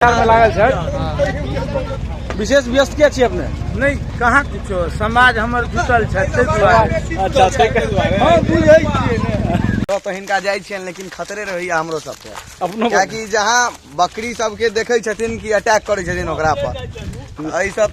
मे लागल छथि विशेष व्यस्त के छी अपने नहि कहाँ किछो समाज हमर जुटल छै ताहि दुआरे अच्छा ताहिके दुआरे हँ बुझै छियै ने तो तो हिनका जाइ छियनि लेकिन खतरे रहैया हमरो सबके अपनो कियाकि जहाँ बकरी सबके देखै छथिन कि अटैक करै छथिन ओकरा पर एहि सब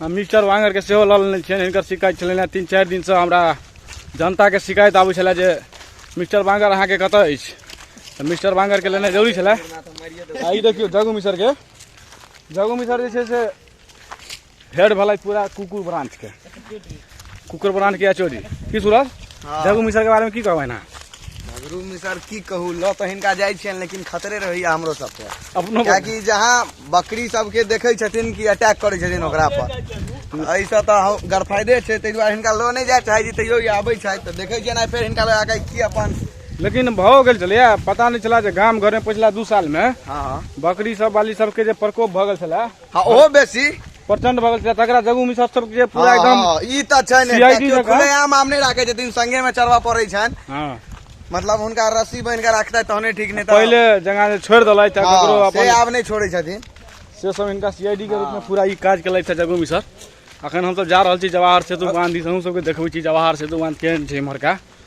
हम मिस्टर वांगरके सेहो लऽ लेने छियनि हिनकर शिकायत छलनि हेँ तीन चारि दिनसँ हमरा जनताके शिकायत आबै छलए जे मिस्टर वांगर अहाँके कतऽ अछि तऽ मिस्टर वांगरके लेनाइ जरूरी छलए आ ई देखियौ जगू मिसरके जगू मिसर जे छै से हेड भेलथि पूरा कुकुर ब्रांचके कुकर बनान किया चोरी की सूरज हाँ। जगू मिसर के बारे में की कहबै ना जगरू मिसर की कहू ल तो हिनका जाइ छियन लेकिन खतरे रही हमरो सब पे अपनो क्या कि जहां बकरी सब के देखे छथिन कि अटैक करे छथिन ओकरा पर ऐ से तो गरफायदे छै तै दुआरे हिनका लो नै जाय चाहे जी तैयो आबै छै त देखे छियन फेर हिनका लगा के की अपन लेकिन भऽ गेल छलै पता नहि छलै जे गाम घरमे पछिला दू सालमे हँ बकरी सब बाली सबके जे प्रकोप भऽ गेल छलै हँ ओहो बेसी प्रचंड भगल छै तकरा जगू मिश्रा सब जे पूरा एकदम हाँ, हाँ, ई तऽ छै ने CID केओ जकाँ। खुलेआम आम नहि राखै छथिन संगे मे चढ़बऽ पड़ै छनि हां मतलब हुनका रस्सी बान्हि कऽ राखतै तहने ठीक नहि तऽ पहिले जगह जे छोड़ देलै त हाँ, ककरो से अपन आब नहि छोड़ै छथिन से सब इनका सीआईडी के रूप में पूरा ई काज केलै छै जगू मिश्रा अखन हम सब जा रहल छी जवाहर सेतु बांध दिस अहूं सबके देखबै छी जवाहर सेतु बांध केहन छै इम्हरका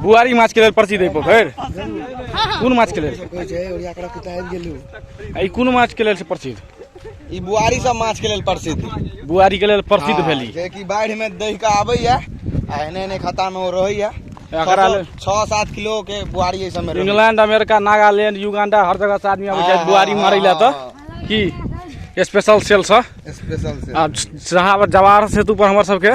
बुआरी माछ के लेल प्रसिद्ध है पोखर कौन माछ के लेल ई कौन माछ के लेल से प्रसिद्ध ई बुआरी सब माछ के लेल प्रसिद्ध बुआरी के लेल प्रसिद्ध भेली जे कि बाढ़ि में दहि के आबे या आ एने एने खाता में वो रहे या एकरा लेल- छह सात किलो के बुआरी ऐसा में इंग्लैंड अमेरिका नागालैंड युगांडा हर जगह से आदमी आबै छै हाँ, बुआरी हाँ, मारै लए हाँ, तऽ की स्पेशल सेल से स्पेशल से आ जहाँ जवाहर सेतु पर हमर सबके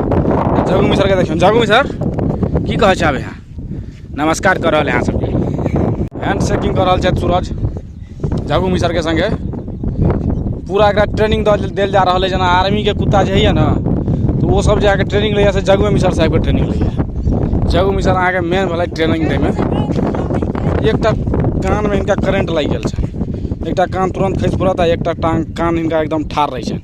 जगू मिसरके देखियौ जगू मिसर की कहै छै आब यहाँ नमस्कार कऽ रहल अहाँ सबके हैंड शेकिंग कऽ रहल छथि सूरज जगू मिसरके सङ्गे पूरा एकरा ट्रेनिंग देल जा रहल है जेना आर्मीके कुत्ता जे होइए ने तऽ ओ सब जे अहाँके ट्रेनिंग लैए से जगुए मिसर साहेबके ट्रेनिंग लैए जगू मिसर अहाँके मेन भेलै ट्रेनिंग दैमे एकटा कानमे हिनका करेंट लागि गेल छै एकटा कान तुरन्त खसि पड़त आ एकटा टाँग कान हिनका एकदम ठाढ़ रहै छनि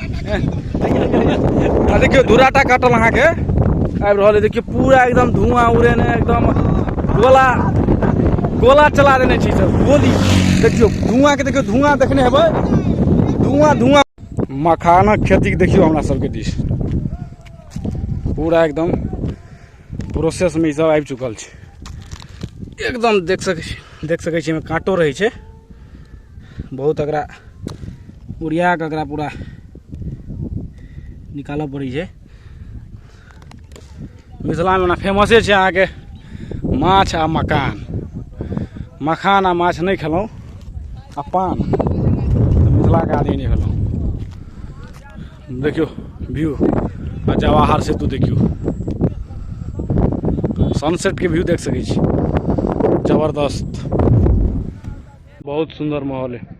आ देखियौ धूराटा काटल अहाँके आबि रहल अइ देखियौ पूरा एकदम धुआँ उड़ेने एकदम गोला गोला चला देने छी सर गोली देखियौ धुआँके देखियौ धुआँ देखने हेबै धुआँ धुआँ मखानक खेतीके देखियौ हमरा सबके दिस पूरा एकदम प्रोसेसमे ईसभ आबि चुकल छै एकदम देख सकै छी देख सकै छी एहिमे काँटो रहै छै बहुत एकरा उड़िया कऽ एकरा पूरा निकालऽ पड़ै छै मिथिलामे ओना फेमसे छै अहाँके माछ आ मकान मखान आ माछ नहि खेलहुँ आ पान तऽ मिथिलाके आदमी नहि भेलहुँ देखियौ व्यू आ जवाहर सेतु देखियौ सनसेटके व्यू देख सकै छी जबरदस्त बहुत सुन्दर माहौल है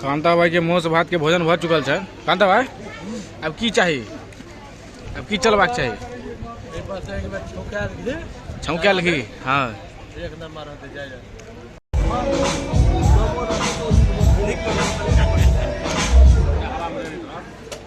कांता भाई के मौस भात के भोजन भऽ चुकल छै कांता भाई अब की चाही अब की चलबाक चाही एहि पर से एक बेर छौंकायल घी छौंकायल घी हँ एक नंबर होते जाय जाय